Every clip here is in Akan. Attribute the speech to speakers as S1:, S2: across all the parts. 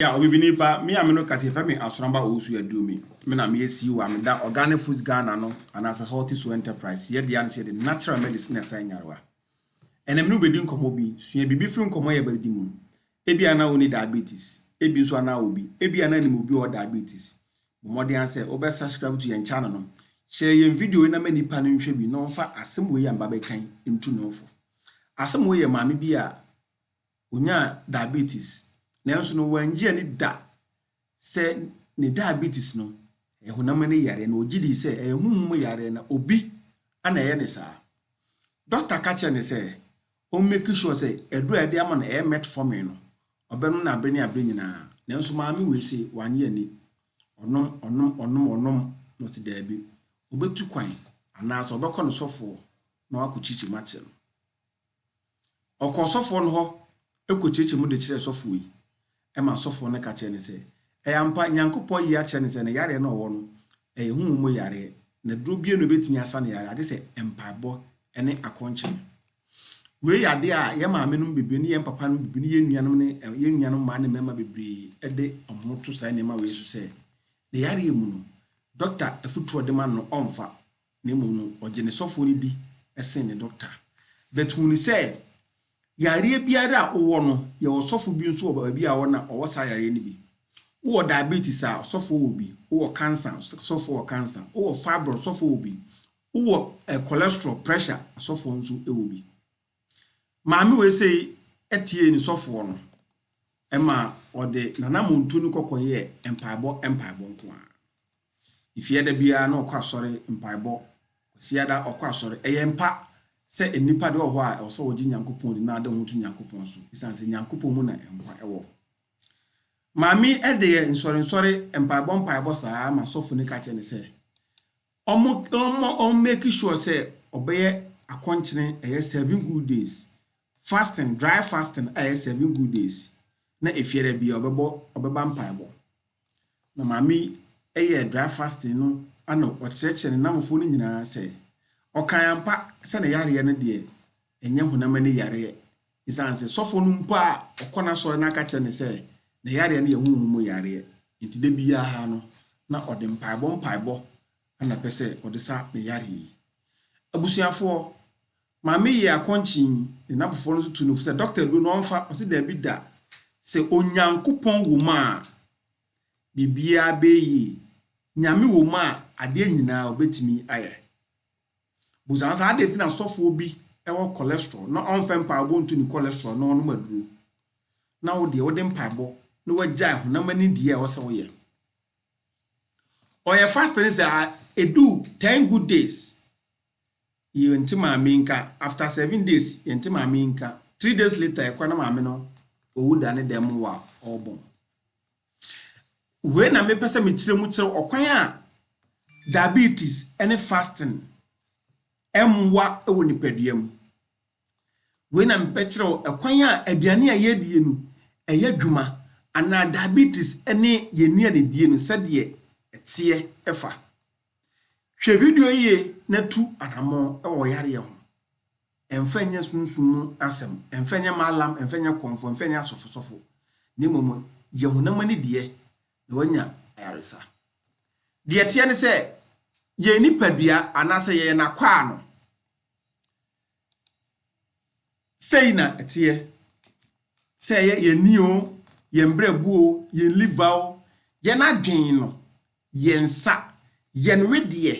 S1: Yea, Obibini pa, me a me no ka sɛ yɛfrɛ me Asoramba Owusu Aduomi. Me na meyɛ CEO a meda Organic Foods Ghana no anaasɛ Healthy Soul Enterprise. Yɛn dea ne sɛ yɛde natural medicine na ɛsa nyarewa. Ɛnnɛ me ne wo bɛdi nkɔmmɔ bi. Sua biribi firi nkɔmmɔ a yɛbɛdi mu. Ebia na wonni diabetes. Ebi nso a na wɔ bi. Ebia na nim obi a ɔwɔ diabetes. Bɔ mmɔden ara sɛ wobɛ subscribe to yɛn channel no. Share yɛn video yi na ma nnipa no nhwɛ bi na wɔmfa asɛm wei a meba bɛka yi ntu ne ho fo. Asɛm wei yɛ maame bi a Onyaa diabetes, nanso no wannye anni da sɛ ne diabetes no yɛ honam ani yareɛ, na ɔgye dii sɛ ɛyɛ honhom mu yareɛ na obi na ɛyɛ no saa. Dɔkta ka kyerɛɛ no sɛ ɔmmeki sure sɛ aduro a yɛde ama no ɛyɛ metformin no ɔbɛnom no abere ne abere nyinaa, nanso maame wei se wannye anni. Ɔnom, ɔnom, ɔnom, ɔnom, na ɔse daabi, ɔbɛtu kwan anaasɛ ɔbɛkɔ ne sɔfoɔ na wakɔkyirikyiri mu akyerɛ no. Ɔkɔɔ sɔfoɔ no hɔ kɔkyerɛkyerɛɛ mu de kyerɛɛ sɔfoɔ yi, ɛma sɔfoɔ no ka kyerɛɛ no sɛ, Ɛyɛ ampa, Nyankopɔn ayi akyerɛ no sɛ ne yareɛ no a ɔwɔ no, ɛyɛ honhom mu yareɛ, na duro biara nni hɔ a ɛbɛtumi asa ne yareɛ, agye sɛ mpaebɔ ne akɔnkyene. Wei yɛ adeɛ a yɛn maame nom bebree ne yɛn papa nom bebree ne yɛn nuanom ne yɛn nuanom mmaa ne mmarima bebree de wɔn ho to saa nneɛma wei so sɛ, ne yareɛ mu no, dɔkta afutuo a ɔde ma no no, ɔmfa. na mmom no, ɔgye ne sɔfoɔ no di sen ne dɔkta. But hunu sɛ, yareɛ biara a wowɔ no, yɛwɔ ɔsɔfo bi nso wɔ baabi a ɔwɔ na ɔwɔ saa yareɛ no bi. Wowɔ diabetes a, ɔsɔfoɔ wɔ bi. Wowɔ cancer, ɔsɔfoɔ wɔ cancer. Wowɔ fibroid, ɔsɔfoɔ wɔ bi. Wowɔ cholesterol, pressure, ɔsɔfoɔ nso wɔ bi. Maame wei sei tiee ne sɔfoɔ no ma ɔde n'anammɔntuo no kɔ kɔyɛɛ mpaebɔ mpaebɔ nko ara. Efie da biara na ɔkɔ asɔre mpaebɔ, Kwasia da ɔkɔ asɔre. Ɛyɛ mpa sɛ nnipa deɛ wɔ hɔ a ɛwɔ sɛ wɔgye Nyankopɔn di na ade ho to Nyankopɔn so ɛsiane sɛ Nyankopɔn mu na nkwa wɔ. Maame deɛ nsɔrensɔre mpaebɔ mpaebɔ saa ma sɔfo no ka kyerɛ no sɛ Ɔmo ɔmo ɔmo make sure sɛ ɔbɛyɛ akɔnkyene ɛyɛ seven good days fasting dry fasting a ɛyɛ seven good days na efiada bia ɔbɛbɔ ɔbɛba mpaebɔ na maame yi ɛyɛ dry fasting no ana ɔkyerɛkyerɛ ne namfoɔ no nyinaa sɛ ɔkan ampa sɛ ne yareɛ no deɛ ɛnyɛ honam ani yareɛ Esiane sɛ sɔfo no mpo a ɔkɔ n'asɔre no aka kyerɛ no sɛ ne yareɛ no yɛ honhom mu yareɛ nti, da biara no na ɔde mpaebɔ mpaebɔ na pɛ sɛ ɔde sa ne yareɛ yi. Abusuafoɔ, maame yɛ akɔnkyen ne n'afoforɔ no nso tu no fo sɛ dɔkta aduro no ɔmfa, ɔse daabi da, sɛ Onyankopɔn wɔ mu a biribiara bɛyɛ yie, Nyame wɔ mu a adeɛ nyinaa ɔbɛtumi ayɛ. Busa no sɛ, Adɛn nti na sɔfoɔ bi wɔ cholesterol na ɔmfɛ mpaebɔ ntu ne cholesterol na ɔnom aduro, na wo deɛ wode mpaebɔ na wagyae honam ani deɛ a ɛwɔ sɛ woyɛ? Ɔyɛ fast no sɛ ɛdu 10 good days, yɛnte maame yi nka, after 7 days, yɛnte maame yi nka, 3 days later, yɛkɔ na maame no ɔwu da ne dɛm mu a ɔrebɔn. Wei na mepɛ sɛ mekyerɛ mu kyerɛ ɔkwan a diabetes ne fasting mmoa wɔ nipadua mu. Wei na mepɛ kyerɛ wo ɛkwan a aduane a yɛdie no ɛyɛ adwuma anaa diabetes ne yɛn nnuane die no sɛdeɛ ɛteɛ ɛfa. Hwɛ video yie na tu anammɔn wɔ yareɛ ho. Ɛmfa nyɛ sunsum mu asɛm, ɛmfa nyɛ Maalam, ɛmfa nyɛ Kɔmfɔ, ɛmfa nyɛ asɔfosɔfo, na mmom yɛ honam ani deɛ, na wanya ayaresa. Deɛ ɛteɛ ne sɛ, yɛn nipadua, anaasɛ yɛyɛ n'akwaa no. Sei na ɛteɛ, sɛ ɛyɛ yɛn ani o, yɛn berɛbo o, yɛn liver o, yɛn adwen no, Yɛn nsa, yɛn wedeɛ,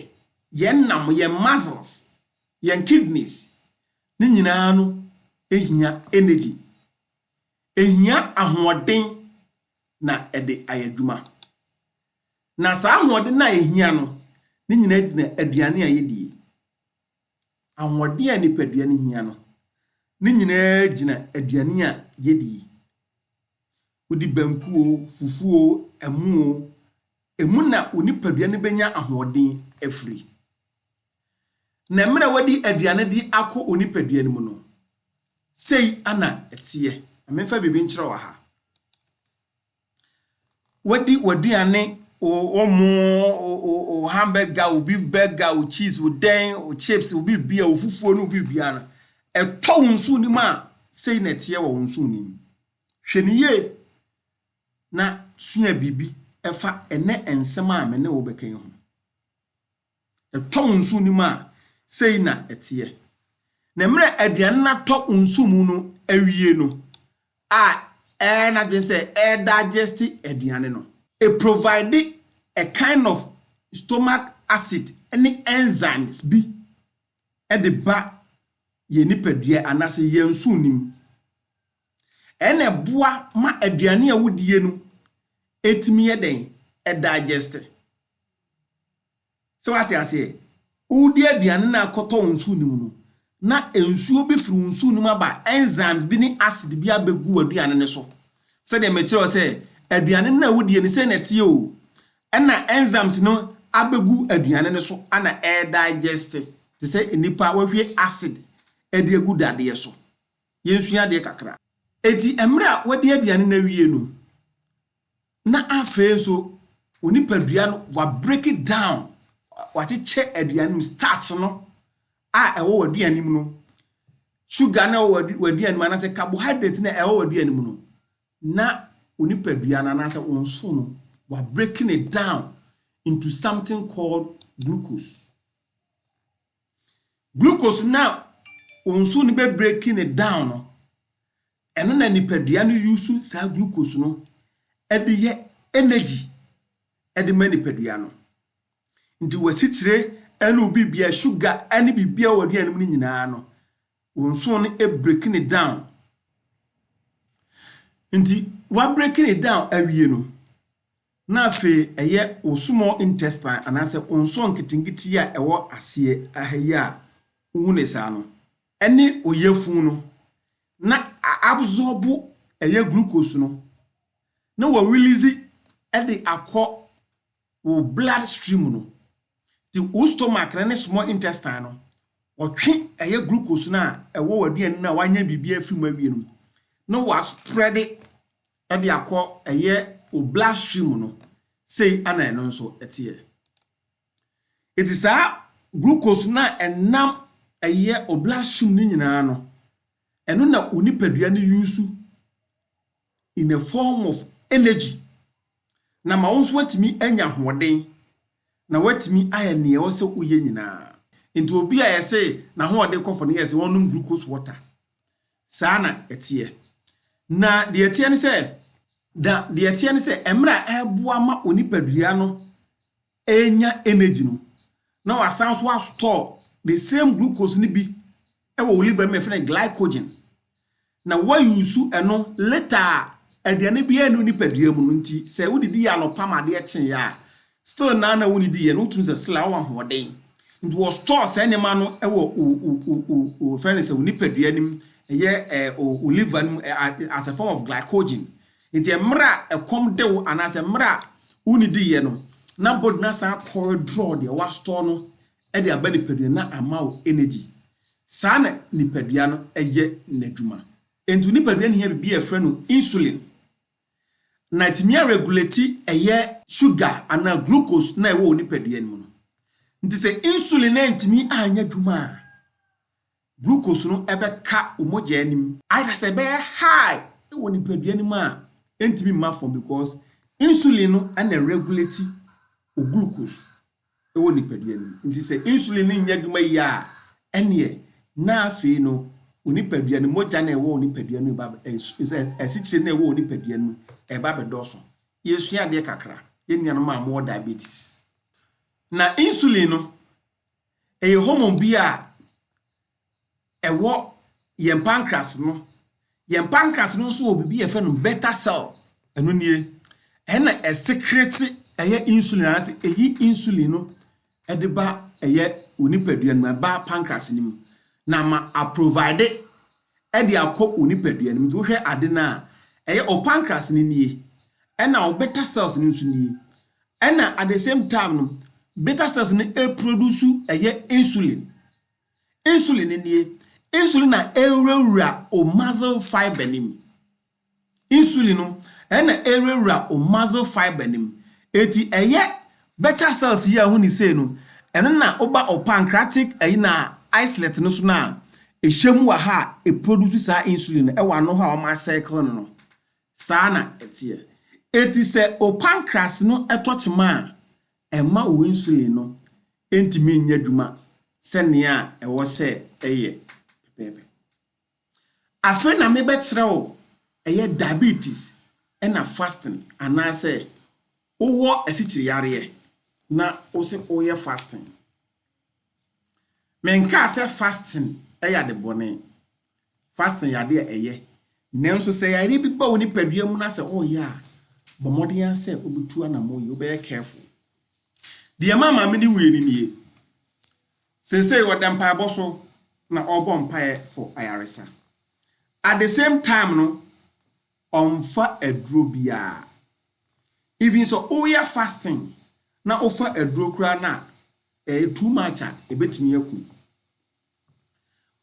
S1: yɛn nam, yɛn muscles, yɛn kidneys, ne nyinaa no hia energy. Ɛhia ahoɔden na ɛde ayɛ adwuma. Na saa ahoɔden no a ɛhia no, ne nyinaa gyina aduane a yɛdie. ahoɔden a nipadua no hia no, ne nyinaa gyina aduane a yedi yi. Wodi banku o, fufu o, ɛmo o, emu na wo nipadua no benya ahoɔden afiri. Na mmerɛ a wadi aduane de akɔ wo nipadua no mu no, sei na ɛteɛ. Memfa biribi nkyerɛ wɔ ha. Wadi w'aduane, wo wo mo, wo wo wo hamburger, wo beef burger, wo cheese, wo dɛn, wo chips, wo biribia, wo fufuo ne wo biribia no, ɛtɔ wo nso wonim a, sei na ɛteɛ wɔ wo nso wonim. Hwɛ no yie na sua biribi ɛfa ɛnɛ nsɛm a me ne wo bɛka yi ho. Ɛtɔ wo nsu no mu a, sei na ɛteɛ. Na mmerɛ aduane no atɔ wo nsu mu no awie no a, ɛyɛ n'adwene sɛ ɛredigest aduane no. Ɛprovide a kind of stomach acid ne enzymes bi de ba yɛn nipadua anaasɛ yɛn nsuo no mu. Ɛna ɛboa ma aduane a wodie no ɛtumi yɛ dɛn? Ɛdigeste. Sɛ wate aseɛ? Wodi aduane na akɔtɔ wo nsuo no mu no, na nsuo bi firi wo nsuo no mu aba, enzymes bi ne acid bi abɛgu w'aduane no so. Sɛdeɛ mekyerɛ wo sɛ aduane no a wodie no sɛ na ɛteɛ o, ɛna enzymes no abɛgu aduane no so ana ɛredigeste te sɛ nnipa wɔhwie acid de agu dadeɛ so. yɛnsua adeɛ kakra. Enti mmerɛ a wadi aduane no awie no, na afei nso wo nipadua no wa break it down, wakyekyɛ aduane mu starch no a ɛwɔ w'aduane mu no, sugar no a ɛwɔ w'aduane mu anaasɛ carbohydrate no a ɛwɔ w'aduane mu no, na wo nipadua no anaasɛ wo nso no wa breaking it down into something called glucose. Glucose no a nsu no bɛ breaki no down no, ɛno na nipadua no use saa glucose no de yɛ energy de ma nipadua no. Nti w'asikyire ne wo bibia, sugar ne bibia wɔ aduane mu no nyinaa no, wo nsu no breaki no down. Nti w'abreaki no down awie no, na afei ɛyɛ wo small intestine anaasɛ wo nsɔɔ nketenkete yi a ɛwɔ aseɛ ha yi a wohu no saa no ne wo yafunu no na a absorb ɛyɛ glucose no na wa release de akɔ wo blood stream no. Nti wo stomach no ne small intestine no wɔtwe ɛyɛ glucose no a ɛwɔ w'aduane no a wanyɛ biribi afiri mu awie no na wa spread de akɔ ɛyɛ wo blood stream no sei na ɛno nso teɛ. Enti saa glucose no a ɛnam ɛyɛ wo blood stream no nyinaa no, ɛno na wo nipadua no use in a form of energy na ma wo nso woatumi anya ahoɔden na woatumi ayɛ nea ɛwɔ sɛ woyɛ nyinaa. Enti obi a yɛse n'ahoɔden kɔ fam no yɛse ɔnnom glucose water. Saa na ɛteɛ. Na deɛ ɛteɛ ne sɛ, na deɛ ɛteɛ ne sɛ, mmerɛ a ɛreboa ma onipadua no renya energy no, na wasan nso astɔɔ the same glucose no bi wɔ wo liver no mu, yɛfrɛ no glycogen, na woayusu ɛno later a aduane biara nni wo nipadua mu no nti, sɛ wodidi yɛ anɔpa ma adeɛ kyeeɛ a, Still naa na wonni di yɛ no wotumi sɛ still awɔ ahoɔden nti wɔ store saa nneɛma no wɔ o o o o o fɛn ne sɛ o nipadua nim ɛyɛ ɛ o o liver nim ɛ as a form of glycogen nti ɛmmerɛ a ɛkɔm de wo anaasɛ ɛmmerɛ a wonni di yɛ no na body no asan akɔ redraw deɛ wa store no ɛde aba nipadua na ama wo energy saa na nipadua no ɛyɛ n'adwuma nti wo nipadua no hia biribi a yɛfrɛ no insulin. na ɛtumi aregulati ɛyɛ sugar anaa glucose na ɛwɔ wo nipadua no mu no. Nti sɛ insulin antumi anyɛ adwuma a, glucose no ɛbɛka wo mogyaa no mu. Ayɛ dɛ sɛ ɛbɛyɛ high wɔ nipadua no mu a ɛntumi mma fam because insulin no na ɛregulati wo glucose wɔ nipadua no mu. Nti sɛ insulin no nnya adwuma yie a, ɛneɛ na afei no wo nipadua no mogya no a ɛwɔ wo nipadua no ba asikyire no a ɛwɔ wo nipadua no mu ɛba abɛdɔɔso. Yɛresua adeɛ kakra, yɛn nuanom a mowɔ diabetes. Na insulin no, ɛyɛ hormone bi a ɛwɔ yɛn pancreas no. Yɛn pancreas no nso wɔ biribi yɛfrɛ no beta cell. Ɛno nie, ɛna ɛsekrete ɛyɛ insulin anaasɛ ɛyi insulin no ɛde ba ɛyɛ wo nipadua no mu, ɛba pancreas no mu na ma aprovide ɛde akɔ wo nipadua no mu. Nti wohwɛ ade no a, ɛyɛ wo pancreas no nie, ɛna wo beta cells no nso nie. Ɛna at the same time no, beta cells no ɛproduce ɛyɛ insulin. Insulin no nie. Insulin na ɛwurawura o muscle fiber no mu. Insulin no ɛna ɛwurawura o muscle fiber no mu. Eti ɛyɛ beta cells yi a ɛho ni sei no, ɛno na woba o pancreatic ɛyi na islet no so no a, ɛhyɛ mu wɔ ha a, ɛproduce saa insulin no ɛwɔ ano hɔ a wɔn asɛkle no no. Saa na ɛteɛ. Eti sɛ o pancreas no ɛtɔ kyema a, Ɛmma wo insulin no ntumi nyɛ adwuma sɛnea ɛwɔ sɛ ɛyɛ pɛpɛɛpɛ. Afei na mebɛkyerɛ wo ɛyɛ diabetes na fasting anaasɛ wowɔ asikyiri yareɛ na wose woyɛ fasting. Me nkaa sɛ fasting yɛ ade bɔne. Fasting yɛ ade a ɛyɛ. Nanso sɛ yareɛ bi ba wo nipadua mu na sɛ ɔreyɛ a, bɔ mmɔden ara sɛ wobɛtu anamɔ yie, wobɛyɛ careful. Deɛ ma maame no wuiɛ no nie. Seesei ɔda mpaebɔ so na ɔrebɔ mpaeɛ for ayaresa. At the same time no, ɔmfa aduro biara. Even sɛ woyɛ fasting na wofa aduro koraa no a, Ɛyɛ too much a ɛbɛtumi aku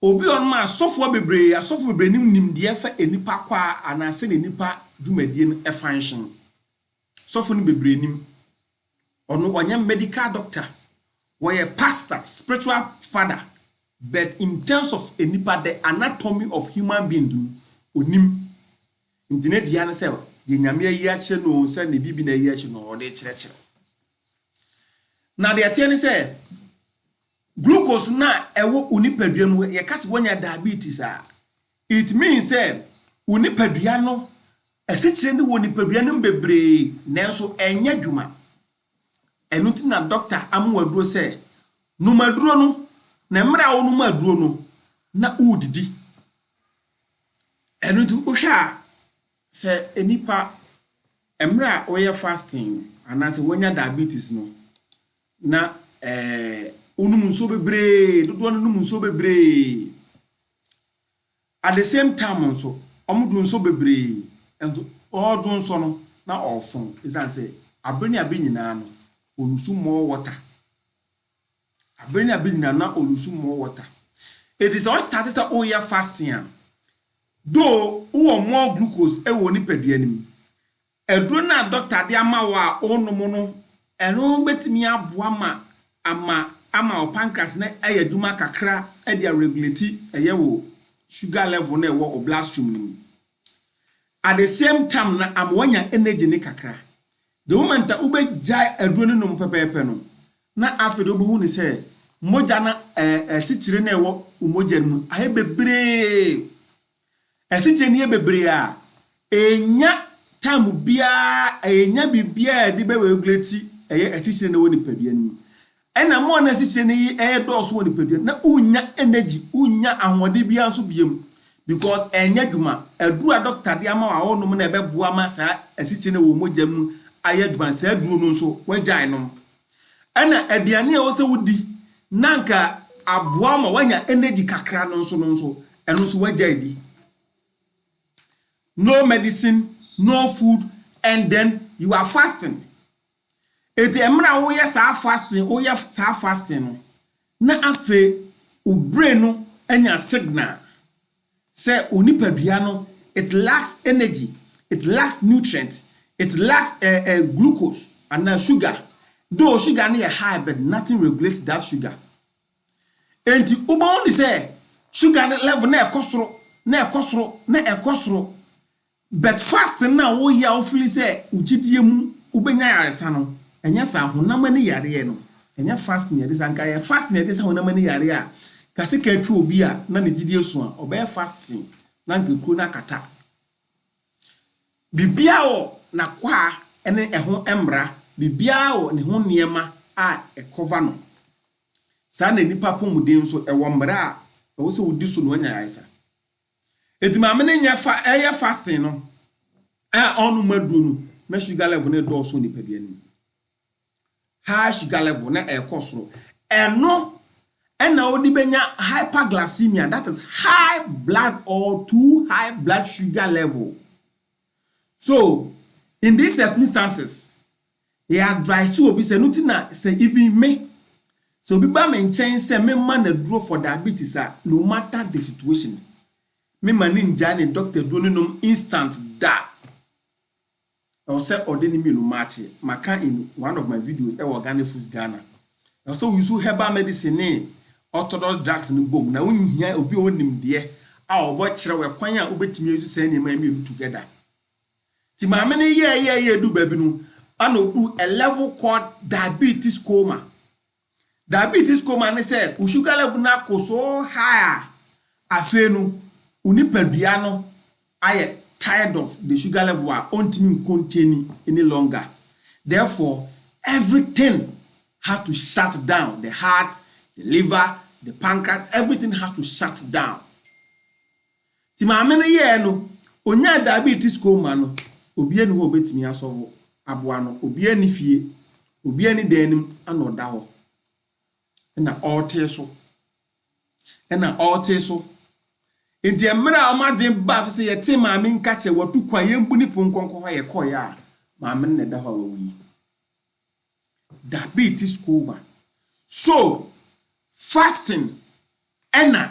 S1: obi. Ɔnom asɔfoɔ bebree, asɔfoɔ bebree nim nimdeɛ fa nnipa kwaa anaa sɛdeɛ nnipa dwumadie no function. Sɔfo no bebree nim. Ɔno ɔnyɛ medical doctor, wɔyɛ pastor, spiritual father, but in terms of nnipa, the anatomy of human being no, ɔnim. Nti ne dea no sɛ deɛ Nyame ayi akyerɛ no o, sɛ ne biribi na ayi akyerɛ no, ɔde kyerɛkyerɛ. Na deɛ ɛteɛ ne sɛ, glucose no a ɛwɔ wo nipadua mu, yɛka sɛ woanya diabetes a, it means sɛ wo nipadua no, asikyire no wɔ nipadua no mu bebree, nanso ɛnyɛ adwuma. Ɛno nti na dɔkta ama wo aduro sɛ, nom aduro no, na mmerɛ a wonom aduro no, na wodidi. Ɛno nti wohwɛ a, sɛ nnipa Mmerɛ a woyɛ fasting no, anaa sɛ woanya diabetes no, na ɛɛ wonom nsuo bebree, dodoɔ no nom nsuo bebree. At the same time nso, wɔdwo nsɔ bebree, nso wɔredwo nsɔ no na wɔrefɔn, ɛsiane sɛ aberɛ ne aberɛ nyinaa no, wɔlusu more water. Aber no a bi nyina na orusu more water. Ntsi sɛ ɔstart sɛ oya fasting a, though owɔ more glucose wɔ wo nypadua no mu, edur no a doctor dze ama wo a onom no, no betumi aboa ma ama ama wo pancreas no ayɛ edwuma kakra dze aregulate yɛ wo sugar level no a ewɔ wo bloodstream no mu. At the same tam no ama woenya energy no kakra. The moment a wobɛgyae aduro no nom pɛpɛɛpɛ no, na afei de wobɛhu no sɛ mogya no asikyire no a ɛwɔ wo mogya no mu ayɛ bebree. Asikyire no yɛ bebree a, ɛnya time biara, ɛnya biribiara a yɛde bɛregulate ɛyɛ asikyire no wɔ nipadua no mu. Ɛna mmoa no a ɛsisire no yi ɛyɛ dɔɔso wɔ nipadua no na wonnya energy, wonnya ahoɔden biara nso biom because ɛnyɛ adwuma. Aduro a doctor de ama wo a wonom na ɛbɛboa ama saa asisire no a ɛwɔ mogya mu ayɛ adwuma no, saa aduro no nso woagyae nom. Ɛna aduane a ɛwɔ sɛ wodi na anka aboa wo ma woanya energy kakra no nso no nso, ɛno nso woagyae di. No medicine, no food and then you are fasting. Enti mmerɛ a woyɛ saa fasting woyɛ saa fasting no na afei wo brain no anya signal sɛ wo nipadua no it lacks energy, it lacks nutrient, it lacks eh, eh, glucose anaa sugar. Though sugar no yɛ high but nothing regulate that sugar. Enti wobɛhu ne sɛ sugar no level na ɛkɔ soro na ɛkɔ soro na ɛkɔ soro But fasting no a woyɛ a wo feel sɛ wo gyidie mu wobɛnya yaresa no, ɛnyɛ saa, honam ani yareɛ no, ɛnyɛ fasting na ɛde saa, nka ɛyɛ fasting na ɛde saa honam ani yareɛ a, nka sika atwa obi a na ne gyidie sua, ɔbɛyɛ fasting na nka kuro no akata. Biribiara wɔ n'akwaa ne ɛho mmara, biribiara wɔ ne ho nneɛma a ɛkɔva no. Saa na nnipa apɔmuden nso, ɛwɔ mmara a ɛwɔ sɛ wodi so na wanya yaresa. Enti maame no nyɛ fa ɛyɛ fasting no a ɔnom aduro no na sugar level no dɔɔso nipadua no mu. High sugar level na ɛkɔ soro. Ɛno ɛna wode bɛnya hyperglycemia that is high blood or too high blood sugar level. So in these circumstances Yɛ advice obi sɛ no ti na sɛ even me sɛ obi ba me nkyɛn sɛ me ma no aduro for diabetes a no matter the situation me ma no ngyae ne doctor aduro no nom instant da. Ɛwɔ sɛ ɔde ne mmienu matche. Maka in one of my videos ɛwɔ Organic Foods Ghana. Ɛwɔ sɛ wo use herbal medicine ne orthodox drugs no bom na wo nhia obi a ɔwɔ nimdeɛ a ɔbɔ kyerɛ wo ɛkwan a wobɛtumi ayi saa nneɛma mmienu together. Nti maame no yɛɛyɛɛyɛ du baabi no, ana ɔduru a level called diabetes coma. Diabetes coma ne sɛ wo sugar level no ako so high a, afei no wo nipadua no ayɛ tired of the sugar level a ɔntumi ncontain any longer. Therefore, everything has to shut down, the heart, the liver, the pancreas, everything has to shut down. Nti maame no yɛɛ no, onyaa diabetes coma no, obia nni hɔ a obetumi asɔ hɔ aboa no, obia nni fie, obia nni dan no mu, ɛna ɔda hɔ, ɛna ɔretee so, ɛna ɔretee so. Nti mmerɛ a wɔn adwene baa so sɛ yɛtee maame nka kyɛ, watu kwan, yɛmbu ne pon nkɔnkɔ hɔ a yɛkɔeɛ a, maame no na ɛda hɔ a wawu yi. Diabetes coma. So, fasting ɛna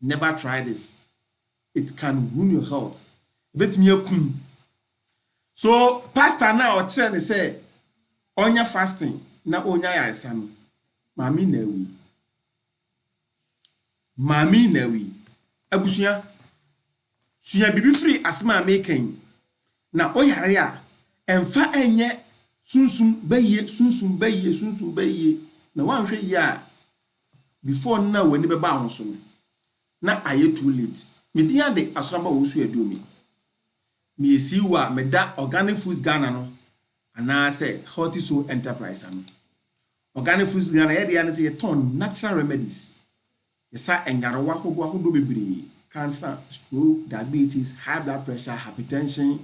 S1: Never try this it can ruin your health ebetumi akum wo so pastor no a ɔkyerɛ no sɛ ɔnyɛ fasting na ɔnya ayaresa no maame yi na awui maame yi na awui abusua. Sua biribi firi asɛm a mereka yi mu. Na woyare a, mfa nyɛ sunsum bayie, sunsum bayie, sunsum bayie. Na woanhwɛ yie a, before no na w'ani bɛba ho so no, na ayɛ too late. Me din ade Asoraba Owusu Aduomi. Meyɛ CEO a meda Organic Foods Ghana no anaasɛ Healthy Soul Enterprise ano. Organic Foods Ghana, yɛdeɛ ara ne sɛ yɛtɔn natural remedies. Yɛsa nyarewa ahodoɔ ahodoɔ bebree, cancer, stroke, diabetes, high blood pressure, hypertension,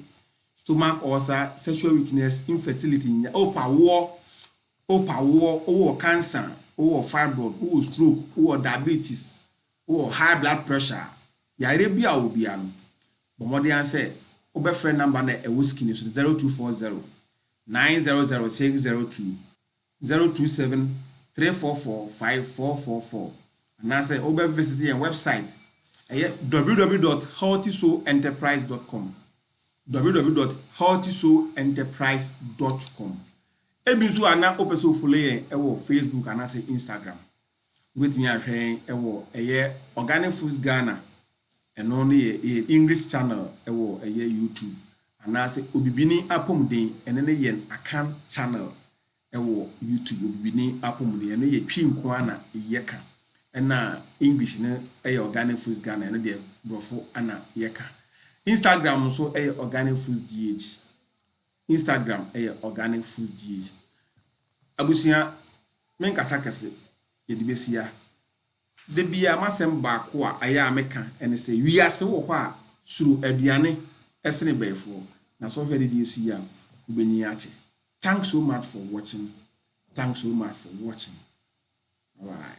S1: stomach ulcer, sexual weakness, infertility, nya, wopɛ awoɔ, wopɛ awoɔ, wowɔ cancer, wowɔ fibroid, wowɔ stroke, wowɔ diabetes, wowɔ high blood pressure, yareɛ bi a wɔbia no, bɔ mmɔden ara sɛ wobɛfrɛ number no a ɛwɔ screen no so no, 0240 900 602. zero two seven three four four five four four four anaasɛ wobɛ visit yɛn wɛbsaet ɛyɛ www dot healthysoul enterprise dot com www dot healthysoul enterprise dot com ebi nso a na wopɛ sɛ wofollow yɛn wɔ facebook anaasɛ instagram Wobɛtumi ahwɛ yɛn wɔ ɛyɛ Organic Foods Ghana, ɛno no yɛ yɛ English channel wɔ ɛyɛ YouTube, anaasɛ Obibini Apɔmuden, ɛno ne yɛn Akan channel wɔ YouTube, Obibini Apɔmuden, ɛno yɛ Twi nko ara na yɛka, ɛna English no yɛ Organic Foods Ghana, ɛno deɛ Borɔfo na yɛka. Instagram nso yɛ Organic Foods GH. Instagram yɛ organic food GH. Abusua me nkasa kɛse yɛde bɛsi ha. Da biara m'asɛm baako a ɛyɛ a me ka ɛne sɛ wiase wɔ hɔ a suro aduane ɛsene bɛɛfoɔ na sɛ ɔhwɛ adedeɛ si yi a wobɛnyin akyɛ. Thanks so much for watching thanks so much for watching bye bye.